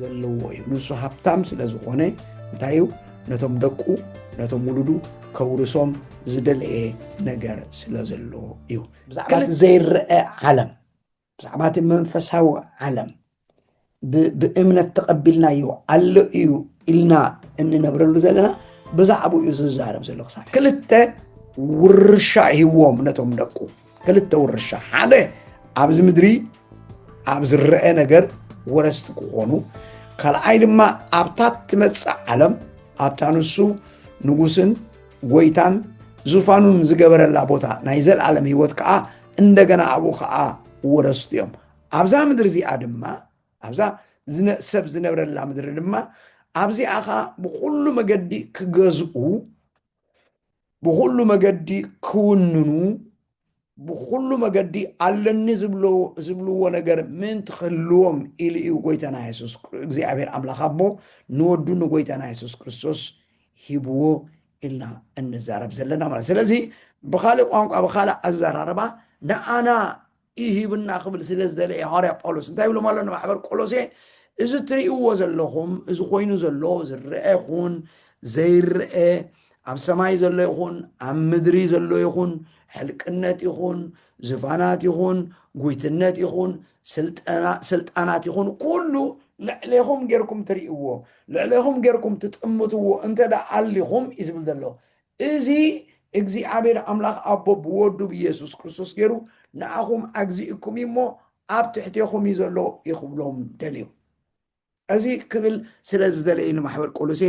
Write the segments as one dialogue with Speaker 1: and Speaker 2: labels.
Speaker 1: ዘለዎ እዩ ንሱ ሃብታም ስለ ዝኾነ እንታይ እዩ ነቶም ደቁ ነቶም ውሉዱ ከውርሶም ዝደለየ ነገር ስለ ዘለዎ እዩ ብዛዕባ ዘይረአ ዓለም ብዛዕባ እቲ መንፈሳዊ ዓለም ብእምነት ተቐቢልናዮ ኣሎ እዩ ኢልና እንነብረሉ ዘለና ብዛዕባኡ እዩ ዝዛረብ ዘሎ ክሳብ ክልተ ውርሻ ሂዎም ነቶም ደቁ ክልተ ውርሻ ሓደ ኣብዚ ምድሪ ኣብ ዝረአ ነገር ወረስቲ ክኾኑ ካልኣይ ድማ ኣብታ ትመፅእ ዓለም ኣብታ ንሱ ንጉስን ጎይታን ዙፋኑን ዝገበረላ ቦታ ናይ ዘለዓለም ህይወት ከዓ እንደገና ኣብኡ ከዓ ወረስቱ እዮም ኣብዛ ምድሪ እዚኣ ድማ ኣብዛ ሰብ ዝነብረላ ምድሪ ድማ ኣብዚኣ ከዓ ብኩሉ መገዲ ክገዝኡ ብኩሉ መገዲ ክውንኑ ብኩሉ መገዲ ኣለኒ ዝብልዎ ነገር ምእንቲ ክህልዎም ኢሉ እዩ ጎይታና የሱስ እግዚኣብሔር ኣምላኽ ኣቦ ንወዱ ንጎይታና የሱስ ክርስቶስ ሂብዎ ኢልና እንዛረብ ዘለና ማለት ስለዚ ብካልእ ቋንቋ ብካልእ ኣዘራርባ ንኣና እዩ ሂብና ክብል ስለ ዝደለየ ሃዋርያ ጳውሎስ እንታይ ይብሎም ኣሎ ንማሕበር ቆሎሴ እዚ እትርእይዎ ዘለኹም እዚ ኮይኑ ዘሎ ዝረአ ይኹን ዘይረአ ኣብ ሰማይ ዘሎ ይኹን ኣብ ምድሪ ዘሎ ይኹን ሕልቅነት ይኹን ዝፋናት ይኹን ጉይትነት ይኹን ስልጣናት ይኹን ኩሉ ልዕሌኹም ጌርኩም ትሪእዎ፣ ልዕሌኹም ጌርኩም ትጥምትዎ እንተ ደኣ ኣሊኹም እዩ ዝብል ዘሎ። እዚ እግዚኣብሔር ኣምላኽ ኣቦ ብወዱ ብየሱስ ክርስቶስ ገይሩ ንኣኹም ኣግዚእኩም እዩ እሞ ኣብ ትሕቴኹም እዩ ዘሎ እዩ ክብሎም ደልዩ። እዚ ክብል ስለ ዝደለየ ንማሕበር ቆሎሴ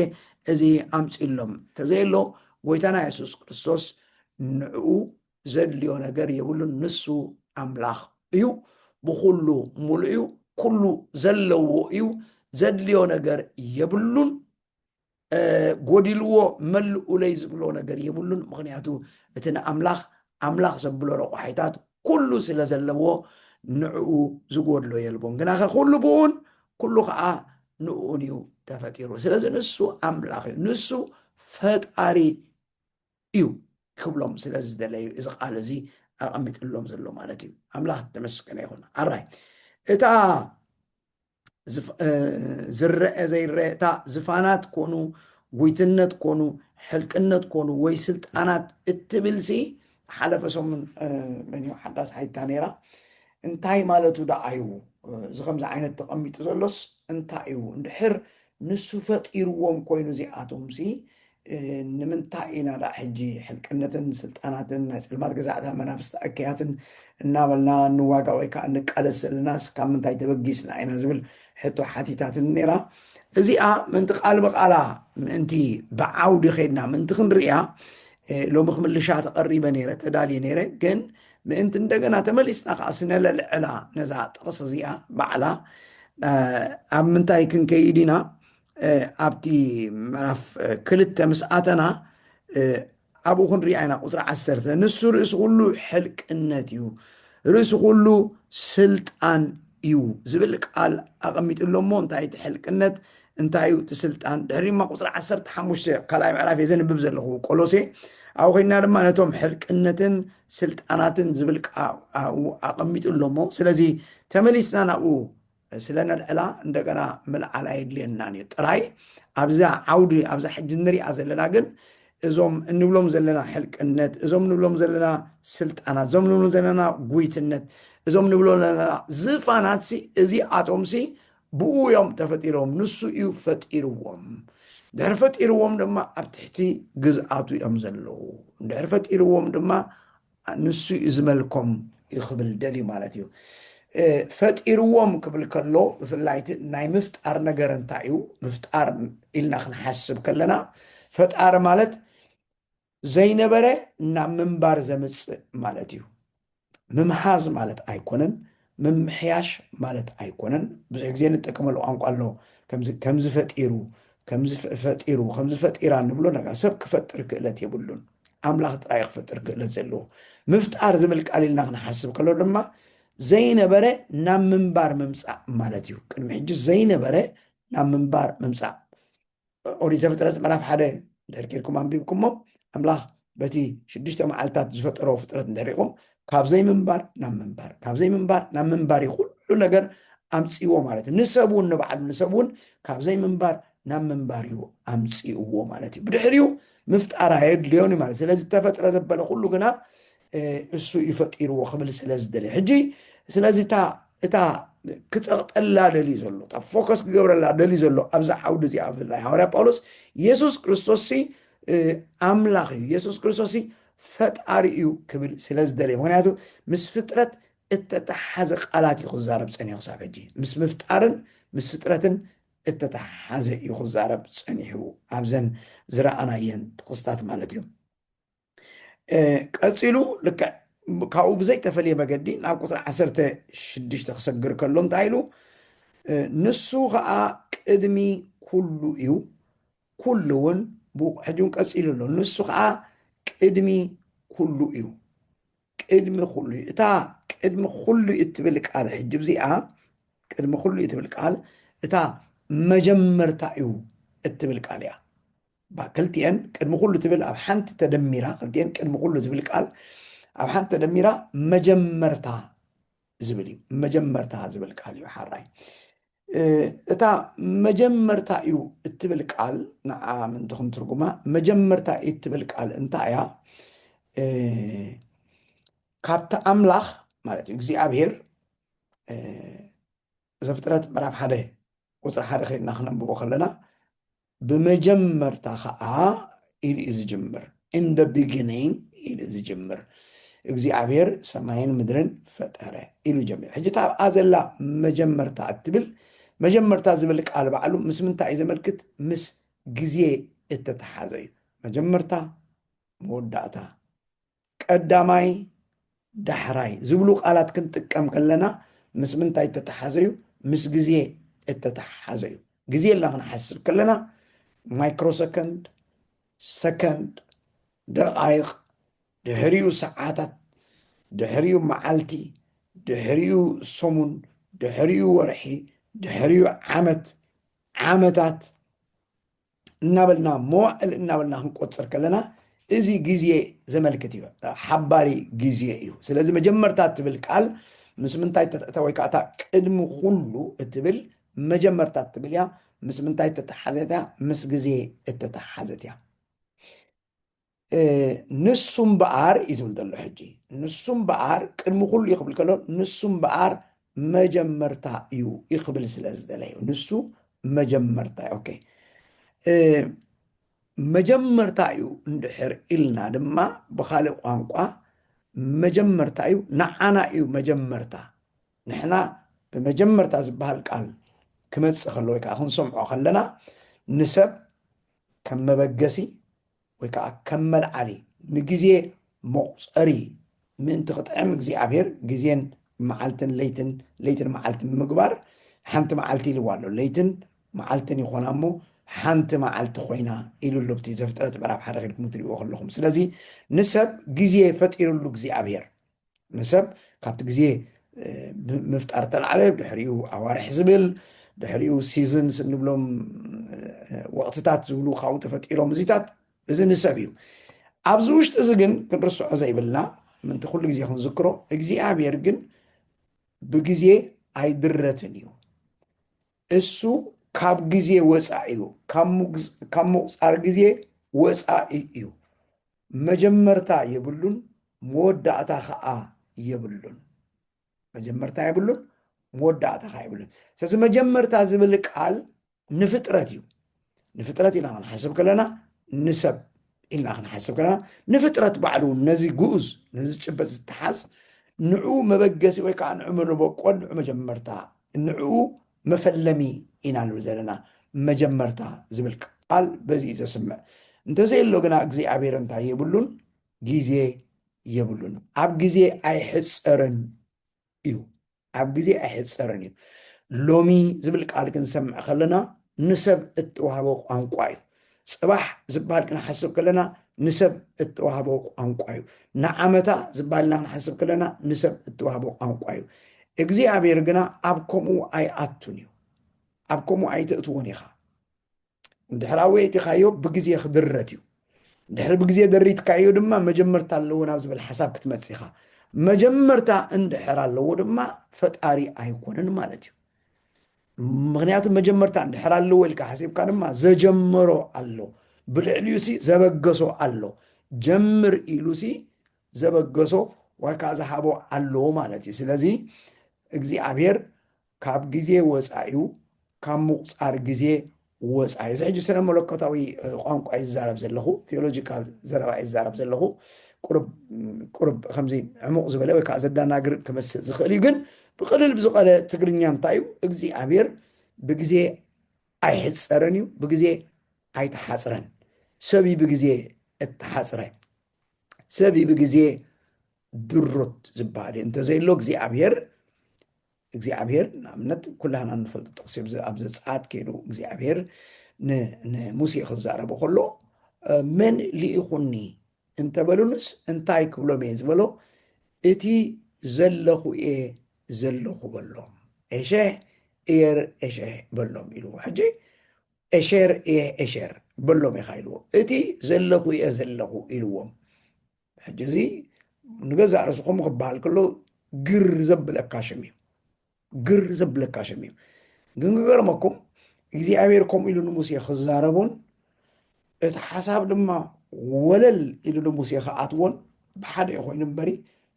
Speaker 1: እዚ ኣምፅሎም ተዘየሎ ጎይታና የሱስ ክርስቶስ ንዕኡ ዘድልዮ ነገር የብሉን ንሱ ኣምላኽ እዩ ብኩሉ ሙሉእ እዩ ኩሉ ዘለዎ እዩ ዘድልዮ ነገር የብሉን ጎዲልዎ መልኡለይ ዝብሎ ነገር የብሉን ምክንያቱ እቲ ንኣምላኽ ኣምላኽ ዘብሎ ረቋሒታት ኩሉ ስለ ዘለዎ ንዕኡ ዝጎድሎ የልቦን ግናኸ ኩሉ ብኡን ኩሉ ከዓ ንኡን እዩ ተፈጢሩ ስለዚ ንሱ ኣምላኽ እዩ ንሱ ፈጣሪ እዩ ክብሎም ስለ ዝደለዩ እዚ ቃል እዚ ኣቐሚጥሎም ዘሎ ማለት እዩ ኣምላኽ ተመስገነ ይኹን ኣራይ እታ ዝረአ ዘይረአ እታ ዝፋናት ኮኑ ጉይትነት ኮኑ ሕልቅነት ኮኑ ወይ ስልጣናት እትብልሲ ሓለፈ ሰሙን መን ሓዳስ ሓይታ ነይራ እንታይ ማለቱ ደኣ እዩ እዚ ከምዚ ዓይነት ተቐሚጡ ዘሎስ እንታይ እዩ እንድሕር ንሱ ፈጢርዎም ኮይኑ እዚኣቶምሲ ንምንታይ ኢና ደኣ ሕጂ ሕልቅነትን ስልጣናትን ናይ ጸልማት ገዛእታ መናፍስቲ እከያትን እናበልና ንዋጋ ወይ ከኣ ንቃለስ ዘለናስ ካብ ምንታይ ተበጊስና ኢና ዝብል ሕቶ ሓቲታትኒ ነይራ። እዚኣ ምእንቲ ቃል ብቓላ ምእንቲ ብዓውዲ ከይድና ምእንቲ ክንርእያ ሎሚ ክምልሻ ተቐሪበ ነይረ ተዳልየ ነይረ ግን ምእንቲ እንደገና ተመሊስና ከዓ ስነለልዕላ ነዛ ጥቕሲ እዚኣ ባዕላ ኣብ ምንታይ ክንከይድ ኢና ኣብቲ ምዕራፍ ክልተ ምስ ኣተና ኣብኡ ክንርኢ ኣይና ቁፅሪ ዓሰርተ ንሱ ርእሲ ኩሉ ሕልቅነት እዩ ርእሲ ኩሉ ስልጣን እዩ ዝብል ቃል ኣቐሚጡ ኣሎ እሞ እንታይ እቲ ሕልቅነት እንታይ እዩ እቲ ስልጣን ድሕሪ ድማ ቁፅሪ ዓሰርተ ሓሙሽተ ካልኣይ ምዕራፍ እየ ዘንብብ ዘለኹ ቆሎሴ ኣብኡ ኮይና ድማ ነቶም ሕልቅነትን ስልጣናትን ዝብል ኣቐሚጡ ኣሎ እሞ ስለዚ ተመሊስና ናብኡ ስለ ነልዕላ እንደገና ምልዓል ኣየድልየናን እዩ ጥራይ ኣብዛ ዓውዲ ኣብዛ ሕጂ እንሪኣ ዘለና ግን እዞም እንብሎም ዘለና ሕልቅነት እዞም ንብሎም ዘለና ስልጣናት እዞም ንብሎ ዘለና ጉይትነት እዞም ንብሎ ዘለና ዝፋናት ሲ እዚኣቶም ሲ ብኡ እዮም ተፈጢሮም ንሱ እዩ ፈጢርዎም ድሕር ፈጢርዎም ድማ ኣብ ትሕቲ ግዝኣቱ እዮም ዘለዉ ድሕር ፈጢርዎም ድማ ንሱ እዩ ዝመልኮም እዩ ክብል ደልዩ ማለት እዩ። ፈጢርዎም ክብል ከሎ ብፍላይ እቲ ናይ ምፍጣር ነገር እንታይ እዩ? ምፍጣር ኢልና ክንሓስብ ከለና ፈጣሪ ማለት ዘይነበረ ናብ ምንባር ዘምፅእ ማለት እዩ። ምምሓዝ ማለት ኣይኮነን፣ ምምሕያሽ ማለት ኣይኮነን ብዙሕ ግዜ ንጠቀመሉ ቋንቋ ኣሎ ከምዚ ከምዚ ፈጢሩ ከምዚ ፈጢሩ ከምዚ ፈጢራ ንብሎ ነገር ሰብ ክፈጥር ክእለት የብሉን ኣምላኽ ጥራይ ክፈጥር ክእለት ዘለዎ ምፍጣር ዝብል ቃል ኢልና ክንሓስብ ከሎ ድማ ዘይነበረ ናብ ምንባር ምምፃእ ማለት እዩ ቅድሚ ሕጂ ዘይነበረ ናብ ምንባር ምምፃእ ኦሪት ዘፍጥረት ምዕራፍ ሓደ እንድሕር ኬድኩም ኣንቢብኩሞ ኣምላኽ በቲ ሽዱሽተ መዓልትታት ዝፈጠሮ ፍጥረት እንድሕሪኹም ካብ ዘይምንባር ናብ ምንባር ካብ ዘይምንባር ናብ ምንባር እዩ ኩሉ ነገር ኣምፅዎ ማለት እዩ ንሰብ እውን ንባዕሉ ንሰብ እውን ካብ ዘይምንባር ናብ ምንባር እዩ ኣምፅእዎ ማለት እዩ ብድሕሪኡ ምፍጣር ኣየድልዮን እዩ ማለት ስለዚ ተፈጥረ ዘበለ ኩሉ ግና እሱ እዩ ፈጢርዎ ክብል ስለ ዝደልየ ሕጂ ስለዚ እታ እታ ክጸቕጠላ ደልዩ ዘሎ እታ ፎከስ ክገብረላ ደልዩ ዘሎ ኣብዚ ዓውዲ እዚኣ ብፍላይ ሃዋርያ ጳውሎስ የሱስ ክርስቶስ ሲ እ፣ ኣምላኽ እዩ የሱስ ክርስቶስ ሲ ፈጣሪ እዩ ክብል ስለ ዝደልየ ምክንያቱ ምስ ፍጥረት እተተሓሓዘ ቃላት እዩ ክዛረብ ጸኒሑ ክሳብ ሕጂ ምስ ምፍጣርን ምስ ፍጥረትን እተተሓሓዘ እዩ ክዛረብ ጸኒሑ ኣብዘን ዝረኣናየን ጥቕስታት ማለት እዩ ቀፂሉ ልክዕ ካብኡ ብዘይተፈለየ መገዲ ናብ ቁፅሪ ዓሰርተ ሽዱሽተ ክሰግር ከሎ እንታይ ኢሉ ንሱ ከዓ ቅድሚ ኩሉ እዩ ኩሉ እውን ሕጂ እውን ቀፂሉ ኣሎ ንሱ ከዓ ቅድሚ ኩሉ እዩ ቅድሚ ኩሉ እዩ እታ ቅድሚ ኩሉ እትብል ቃል ሕጂ እዚኣ ቅድሚ ኩሉ እትብል ቃል እታ መጀመርታ እዩ እትብል ቃል እያ እባ ክልቲኤን ቅድሚ ኩሉ ትብል ኣብ ሓንቲ ተደሚራ ክልቲኤን ቅድሚ ኩሉ ዝብል ቃል ኣብ ሓንቲ ተደሚራ መጀመርታ ዝብል እዩ መጀመርታ ዝብል ቃል እዩ ሓራይ እታ መጀመርታ እዩ እትብል ቃል ንዓ ምንቲ ክንትርጉማ መጀመርታ እዩ እትብል ቃል እንታይ እያ ካብቲ ኣምላኽ ማለት እዩ እግዚኣብሄር ዘፍጥረት ምዕራፍ ሓደ ቁፅሪ ሓደ ከይድና ክነንብቦ ከለና ብመጀመርታ ኸኣ ኢሉ እዩ ዝጅምር in the beginning ኢሉ እዩ ዝጅምር እግዚኣብሔር ሰማይን ምድርን ፈጠረ ኢሉ ጀሚሩ ሕጂ እታ ኣብኣ ዘላ መጀመርታ እትብል መጀመርታ ዝብል ቃል ባዕሉ ምስ ምንታይ እዩ ዘመልክት ምስ ግዜ እተተሓዘ እዩ መጀመርታ መወዳእታ ቀዳማይ፣ ዳሕራይ ዝብሉ ቃላት ክንጥቀም ከለና ምስ ምንታይ እተተሓሓዘ'ዩ? ምስ ግዜ እተተሓሓዘ'ዩ። ግዜ ኢልና ክንሓስብ ከለና ማይክሮ ሰከንድ፣ ሰከንድ፣ ደቓይቕ፣ ድሕሪኡ ሰዓታት፣ ድሕሪኡ መዓልቲ፣ ድሕሪኡ ሰሙን፣ ድሕሪኡ ወርሒ፣ ድሕሪኡ ዓመት፣ ዓመታት፣ እናበልና መዋእል እናበልና ክንቆፅር ከለና እዚ ግዜ ዘመልክት እዩ ሓባሪ ግዜ እዩ ስለዚ መጀመርታ እትብል ቃል ምስ ምንታይ ተትእታ ወይ ከዓ እታ ቅድሚ ኩሉ እትብል መጀመርታ እትብል እያ ምስ ምንታይ እተተሓዘት እያ ምስ ግዜ እተተሓዘት እያ ንሱ እምበኣር እዩ ዝብል ዘሎ ሕጂ ንሱ እምበኣር ቅድሚ ኩሉ እዩ ክብል ከሎ ንሱ እምበኣር መጀመርታ እዩ እዩ ክብል ስለ ዝደለዩ ንሱ መጀመርታ እዩ ኦኬ እ፣ መጀመርታ እዩ እንድሕር ኢልና ድማ ብካልእ ቋንቋ መጀመርታ እዩ ንዓና እዩ መጀመርታ ንሕና ብመጀመርታ ዝበሃል ቃል ክመፅእ ከሎ ወይ ከዓ ክንሰምዖ ከለና ንሰብ ከም መበገሲ ወይ ከኣ ከም መልዓሊ ንግዜ መቑጸሪ ምእንቲ ክጥዕም እግዚኣብሔር ግዜን መዓልትን ለይትን ለይትን መዓልትን ብምግባር ሓንቲ መዓልቲ ኢልዋ ኣሎ ለይትን መዓልትን ይኾና እሞ ሓንቲ መዓልቲ ኮይና ኢሉ ኣሎ ብቲ ዘፍጥረት ምዕራፍ ሓደ ከድኩም ትሪእዎ ከለኹም ስለዚ ንሰብ ግዜ ፈጢርሉ እግዚኣብሔር ንሰብ ካብቲ ግዜ ምፍጣር ተላዕለ ድሕሪኡ ኣዋርሕ ዝብል ድሕሪኡ ሲዝንስ እንብሎም ወቕትታት ዝብሉ ካብኡ ተፈጢሮም እዚታት እዚ ንሰብ እዩ ኣብዚ ውሽጢ እዚ ግን ክንርስዖ ዘይብልና ምንቲ ኩሉ ግዜ ክንዝክሮ እግዚኣብሔር ግን ብግዜ ኣይድረትን እዩ እሱ ካብ ግዜ ወጻኢ እዩ፣ ካብ ምቝጻር ግዜ ወጻኢ እዩ፣ መጀመርታ የብሉን መወዳእታ ኸኣ የብሉን። መጀመርታ የብሉን መወዳእታ ኸኣ የብሉን። ስለዚ መጀመርታ ዝብል ቃል ንፍጥረት እዩ። ንፍጥረት ኢና ክንሓስብ ከለና ንሰብ ኢልና ክንሓስብ ከለና ንፍጥረት ባዕሉ እውን ነዚ ግኡዝ ነዚ ጭበጥ ዝተሓዝ ንዑ መበገሲ ወይ ከዓ ንዑ መበቆል ንዑ መጀመርታ ንዑ መፈለሚ ኢና ንብል ዘለና መጀመርታ ዝብል ቃል በዚ እዩ ዘስምዕ እንተዘየሎ ግና እግዚኣብሔር እንታይ የብሉን ግዜ የብሉን ኣብ ግዜ ኣይሕፀርን እዩ ኣብ ግዜ ኣይሕጸርን እዩ። ሎሚ ዝብል ቃል ክንሰምዕ ከለና ንሰብ እተዋህበ ቋንቋ እዩ። ጽባሕ ዝበሃል ክንሓስብ ከለና ንሰብ እተዋህበ ቋንቋ እዩ። ንዓመታ ዝበሃል ኢና ክንሓስብ ከለና ንሰብ እተዋህበ ቋንቋ እዩ። እግዚኣብሔር ግና ኣብ ከምኡ ኣይኣቱን እዩ። ኣብ ከምኡ ኣይተእትዎን ኢኻ። እንድሕር ኣወየጢኻዮ ብግዜ ክድረት እዩ። ድሕሪ ብግዜ ደሪትካዮ ድማ መጀመርታ ኣለዎ ናብ ዝብል ሓሳብ ክትመጽእ ኢኻ። መጀመርታ እንድሕር ኣለዎ ድማ ፈጣሪ ኣይኮነን ማለት እዩ። ምክንያቱ መጀመርታ እንድሕር ኣለዎ ኢልካ ሓሲብካ ድማ ዘጀመሮ ኣሎ ብልዕሊኡ ሲ ዘበገሶ ኣሎ ጀምር ኢሉ ሲ ዘበገሶ ወይ ከዓ ዝሃቦ ኣለዎ ማለት እዩ ስለዚ እግዚኣብሔር ካብ ግዜ ወጻኢኡ ካብ ምቑጻር ግዜ ወጻኢ እዚ ሕጂ ስነ መለኮታዊ ቋንቋ እዩ ዝዛረብ ዘለኹ ቴዎሎጂካል ዘረባ እዩ ዝዛረብ ዘለኹ ቁርብ ከምዚ ዕሙቕ ዝበለ ወይ ከዓ ዘዳናግር ክመስል ዝኽእል እዩ ግን ብቕልል ብዝቐለ ትግርኛ እንታይ እዩ እግዚኣብሔር ብግዜ ኣይሕፀርን እዩ ብግዜ ኣይተሓፅረን ሰብ እዩ ብግዜ እተሓፅረ ሰብ እዩ ብግዜ ድሩት ዝበሃል እዩ እንተዘይሎ እግዚኣብሔር እግዚኣብሄር ንኣብነት ኩላህና እንፈልጦ ጥቕሲ ኣብዚ ኣብ ዘጸኣት ከይዱ እግዚኣብሄር ን ንሙሴ ክዛረቦ ከሎ መን ልኢኹኒ እንተበሉንስ እንታይ ክብሎም እየ ዝበሎ እቲ ዘለኹ እየ ዘለኹ በሎም ኤሸህ እየር ኤሸህ በሎም ኢልዎ ሕጂ ኤሸር እየ ኤሸር በሎም ኢኻ ኢልዎ እቲ ዘለኹ እየ ዘለኹ ኢልዎም ሕጂ እዚ ንገዛእ ርእስኹም ክበሃል ከሎ ግር ዘብለካ ሽም እዩ ግር ዘብለካ ሽም እዩ ግን ክገርመኩም እግዚኣብሔር ከምኡ ኢሉ ንሙሴ ክዛረቦን እቲ ሓሳብ ድማ ወለል ኢሉ ንሙሴ ክኣትዎን ብሓደ እዩ ኮይኑ እምበሪ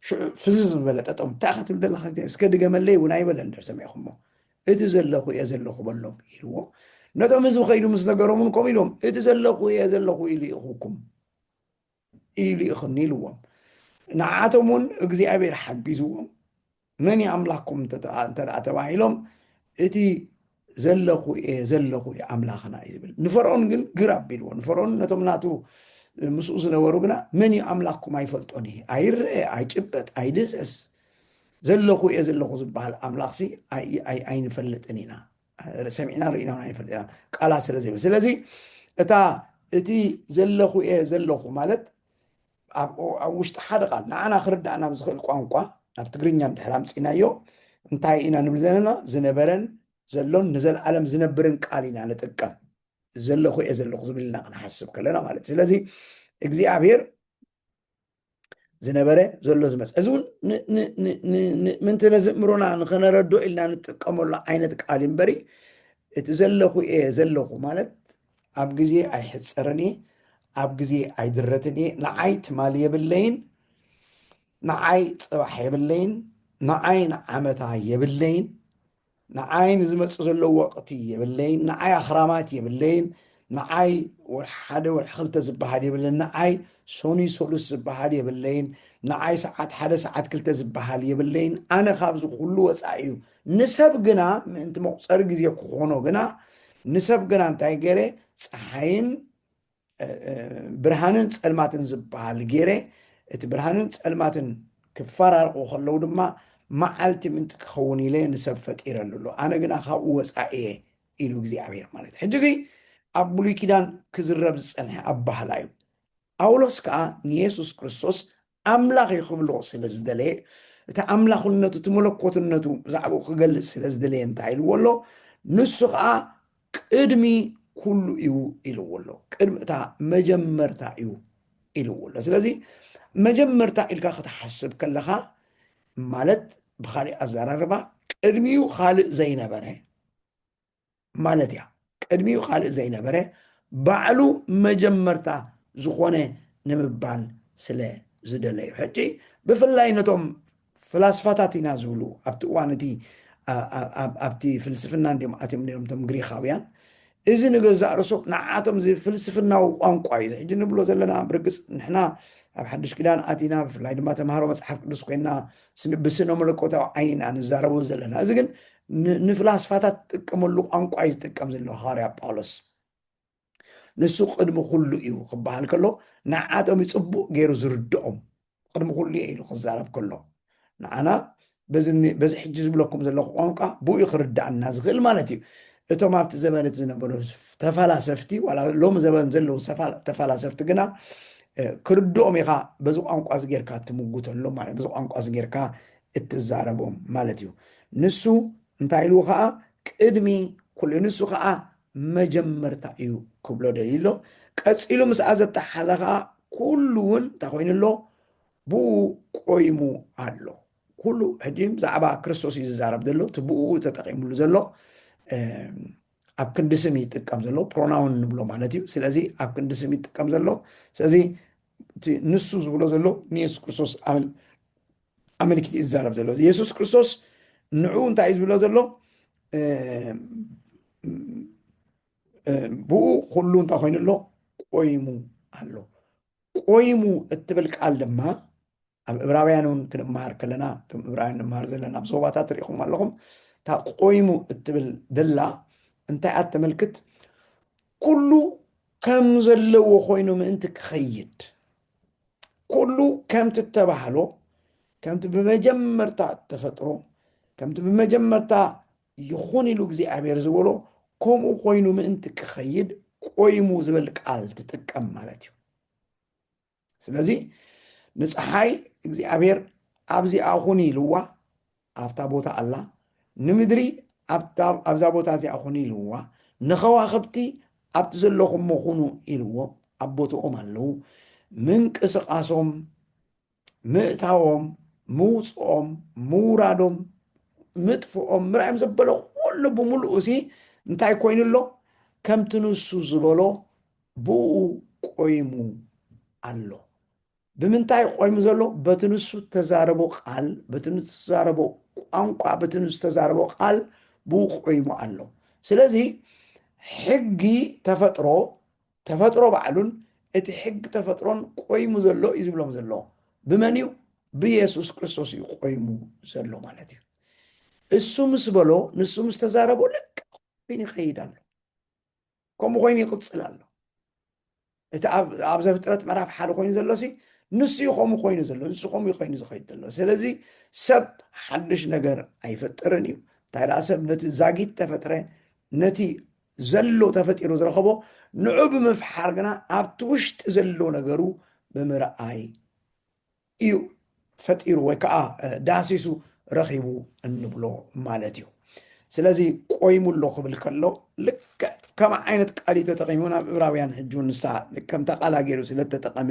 Speaker 1: ሽዑ ፍዝዝ ዝበለ ጠጠም እንታይ ክትብል ዘለካ እግዚኣብሔር እስከ ድገመለይ እውን ኣይበለ እንድር ሰሚዕኹሞ እቲ ዘለኹ እየ ዘለኹ በሎም ኢልዎ ነቶም ህዝቢ ከይዱ ምስ ነገሮም እውን ከምኡ ኢሎም እቲ ዘለኹ እየ ዘለኹ ኢሉ ይኹኩም ኢሉ ይኽን ኢልዎም ንዓቶም እውን እግዚኣብሔር ሓጊዝዎም መን እዩ ኣምላኩም እንተደኣ ተባሂሎም እቲ ዘለኹ እየ ዘለኹ እዩ ኣምላኽና እዩ ዝብል ንፈርኦን ግን ግር ኣቢልዎ ንፈርኦን ነቶም ናቱ ምስኡ ዝነበሩ ግና መን እዩ ኣምላኩም ኣይፈልጦን እዩ ኣይረአ ኣይጭበጥ ኣይድህሰስ ዘለኹ እየ ዘለኹ ዝበሃል ኣምላኽሲ ኣይንፈልጥን ኢና ሰሚዕና ርኢና ውን ኣይንፈልጥ ኢና ቃላት ስለ ዘይብሉ ስለዚ እታ እቲ ዘለኹ እየ ዘለኹ ማለት ኣብ ኣብ ውሽጢ ሓደ ቃል ንዓና ክርዳእና ኣብ ዝኽእል ቋንቋ ናብ ትግርኛ ድሕር ኣምፂናዮ እንታይ ኢና ንብል ዘለና ዝነበረን ዘሎን ንዘለዓለም ዝነብርን ቃል ኢና ንጥቀም ዘለኹ እየ ዘለኹ ዝብልና ክንሓስብ ከለና ማለት እዩ ስለዚ እግዚኣብሔር ዝነበረ ዘሎ ዝመፅ እዚ እውን ምንቲ ነዝእምሮና ንክነረዶ ኢልና ንጥቀመሉ ዓይነት ቃል እምበሪ እቲ ዘለኹ እየ ዘለኹ ማለት ኣብ ግዜ ኣይሕፀርን እየ ኣብ ግዜ ኣይድረትን እየ ንዓይ ትማሊ የብለይን ንዓይ ፅባሕ የብለይን ንዓይ ንዓመታ የብለይን ንዓይ ንዝመጽእ ዘሎ ወቕቲ የብለይን፣ ንዓይ ኣኽራማት የብለይን፣ ንዓይ ወርሒ ሓደ ወርሒ ክልተ ዝበሃል የብለይን፣ ንዓይ ሰኑይ ሰሉስ ዝበሃል የብለይን፣ ንዓይ ሰዓት ሓደ ሰዓት ክልተ ዝበሃል የብለይን፣ ኣነ ካብዚ ኩሉ ወጻኢ እዩ። ንሰብ ግና ምእንቲ መቑጸሪ ግዜ ክኾኖ ግና ንሰብ ግና እንታይ ገይረ ጸሓይን ብርሃንን ጸልማትን ዝበሃል ገይረ እቲ ብርሃንን ጸልማትን ክፈራርቑ ከለዉ ድማ መዓልቲ ምንቲ ክኸውን ኢለ ንሰብ ፈጢረሉ ኣሎ ኣነ ግና ካብኡ ወፃኢ እየ ኢሉ እግዚኣብሔር ማለት እዩ ሕጂ እዚ ኣብ ብሉይ ኪዳን ክዝረብ ዝፀንሐ ኣባህላ እዩ ጳውሎስ ከዓ ንየሱስ ክርስቶስ ኣምላኽ እዩ ክብሎ ስለ ዝደለየ እቲ ኣምላኽነቱ እቲ መለኮትነቱ ብዛዕባኡ ክገልጽ ስለ ዝደለየ እንታይ ኢልዎ ኣሎ ንሱ ከዓ ቅድሚ ኩሉ እዩ ኢልዎ ኣሎ ቅድሚ እታ መጀመርታ እዩ ኢልዎ ኣሎ ስለዚ መጀመርታ ኢልካ ክትሓስብ ከለኻ ማለት ብካሊእ ኣዘራርባ ቅድሚኡ ካልእ ዘይነበረ ማለት እያ ቅድሚኡ ካልእ ዘይነበረ ባዕሉ መጀመርታ ዝኾነ ንምባል ስለ ዝደለዩ ሕጂ ብፍላይ ነቶም ፍላስፋታት ኢና ዝብሉ ኣብቲ እዋን እቲ ኣብቲ ፍልስፍና እንዲም ኣትዮም ነሮም እቶም ግሪኻውያን እዚ ንገዛእ ርእሱ ንዓቶም እዚ ፍልስፍናዊ ቋንቋ እዩ ዝሕጂ ንብሎ ዘለና ብርግፅ ንሕና ኣብ ሓድሽ ኪዳን ኣቲና ብፍላይ ድማ ተምሃሮ መፅሓፍ ቅዱስ ኮይና ብስነ መለኮታዊ ዓይኒ ኢና ንዛረቡ ዘለና እዚ ግን ንፍላስፋታት ትጥቀመሉ ቋንቋ እዩ ዝጥቀም ዘሎ ሃዋርያ ጳውሎስ ንሱ ቅድሚ ኩሉ እዩ ክበሃል ከሎ ንዓቶም እዩ ፅቡቅ ገይሩ ዝርድኦም ቅድሚ ኩሉ እየ ኢሉ ክዛረብ ከሎ ንዓና በዚ ሕጂ ዝብለኩም ዘለኹ ቋንቋ ብኡ ክርዳእና ዝኽእል ማለት እዩ እቶም ኣብቲ ዘበን እቲ ዝነበሩ ተፈላሰፍቲ ዋላ ሎሚ ዘበን ዘለዉ ተፈላሰፍቲ ግና ክርድኦም ኢኻ በዚ ቋንቋ እዚ ጌርካ ትምጉተሎም ማለት በዚ ቋንቋ እዚ ጌርካ እትዛረቦም ማለት እዩ ንሱ እንታይ ኢሉ ከኣ ቅድሚ ኩሉ ንሱ ከኣ መጀመርታ እዩ ክብሎ ደልዩ ኣሎ ቀጺሉ ምስኣ ዘተሓሓዘ ከኣ ኩሉ እውን እንታይ ኮይኑ ኣሎ ብኡ ቆይሙ ኣሎ ኩሉ ሕጂ ብዛዕባ ክርስቶስ እዩ ዝዛረብ ዘሎ እቲ ብኡ ተጠቂምሉ ዘሎ ኣብ ክንዲ ስም ይጥቀም ዘሎ ፕሮናውን ንብሎ ማለት እዩ ስለዚ ኣብ ክንዲ ስም ይጥቀም ዘሎ ስለዚ እቲ ንሱ ዝብሎ ዘሎ ንየሱስ ክርስቶስ ኣመልኪት እዩ ዝዛረብ ዘሎ የሱስ ክርስቶስ ንዑ እንታይ እዩ ዝብሎ ዘሎ ብኡ ኩሉ እንታይ ኮይኑ ኣሎ ቆይሙ ኣሎ ቆይሙ እትብል ቃል ድማ ኣብ እብራውያን እውን ክንመሃር ከለና እቶም እብራውያን ንመሃር ዘለና ኣብ ዞባታት ሪኢኹም ኣለኹም እታ ቆይሙ እትብል ደላ እንታይ እያ ተመልክት ኩሉ ከም ዘለዎ ኮይኑ ምእንቲ ክኸይድ ኩሉ ከምቲ እተባህሎ ከምቲ ብመጀመርታ እተፈጥሮ ከምቲ ብመጀመርታ ይኹን ኢሉ እግዚኣብሔር ዝበሎ ከምኡ ኮይኑ ምእንቲ ክኸይድ ቆይሙ ዝብል ቃል ትጥቀም ማለት እዩ ስለዚ ንፀሓይ እግዚኣብሔር ኣብዚኣ ኹኒ ኢልዋ ኣብታ ቦታ ኣላ ንምድሪ ኣብዛ ቦታ እዚኣ ኹኒ ኢልዋ ንኸዋኽብቲ ኣብቲ ዘለኹሞ ኹኑ ኢልዎም ኣብ ቦትኦም ኣለዉ ምንቅስቃሶም ምእታዎም ምውፅኦም ምውራዶም ምጥፍኦም ምርኣዮም ዘበለ ኩሉ ብምሉእ እሲ እንታይ ኮይኑ ኣሎ ከምቲ ንሱ ዝበሎ ብእኡ ቆይሙ ኣሎ። ብምንታይ እዩ ቆይሙ ዘሎ? በቲ ንሱ እተዛረቦ ቃል፣ በቲ ንሱ ዝተዛረቦ ቋንቋ፣ በቲ ንሱ ዝተዛረቦ ቃል ብኡ ቆይሙ ኣሎ። ስለዚ ሕጊ ተፈጥሮ ተፈጥሮ ባዕሉን እቲ ሕጊ ተፈጥሮን ቆይሙ ዘሎ እዩ ዝብሎም ዘሎ። ብመን እዩ? ብየሱስ ክርስቶስ እዩ ቆይሙ ዘሎ ማለት እዩ። እሱ ምስ በሎ ንሱ ምስ ተዛረቦ ልክዕ ኮይኑ ይኸይድ ኣሎ። ከምኡ ኮይኑ ይቕፅል ኣሎ እቲ ኣብ ዘፍጥረት ምዕራፍ ሓደ ኮይኑ ዘሎ ሲ ንሱ እዩ ከምኡ ኮይኑ ዘሎ ንሱ ከምኡ ኮይኑ ዝኸይድ ዘሎ ስለዚ ሰብ ሓድሽ ነገር ኣይፈጥርን እዩ እንታይ ደኣ ሰብ ነቲ ዛጊት ተፈጥረ ነቲ ዘሎ ተፈጢሩ ዝረኸቦ ንዑ ብምፍሓር ግና ኣብቲ ውሽጢ ዘሎ ነገሩ ብምርኣይ እዩ ፈጢሩ ወይ ከዓ ዳህሲሱ ረኺቡ እንብሎ ማለት እዩ ስለዚ ቆይሙ ኣሎ ክብል ከሎ ልክዕ ከም ዓይነት ቃል እዩ ተጠቂሙ ናብ ዕብራውያን ሕጂ እውን ንሳ ከምታ ቃላ ገይሩ ስለተጠቀመ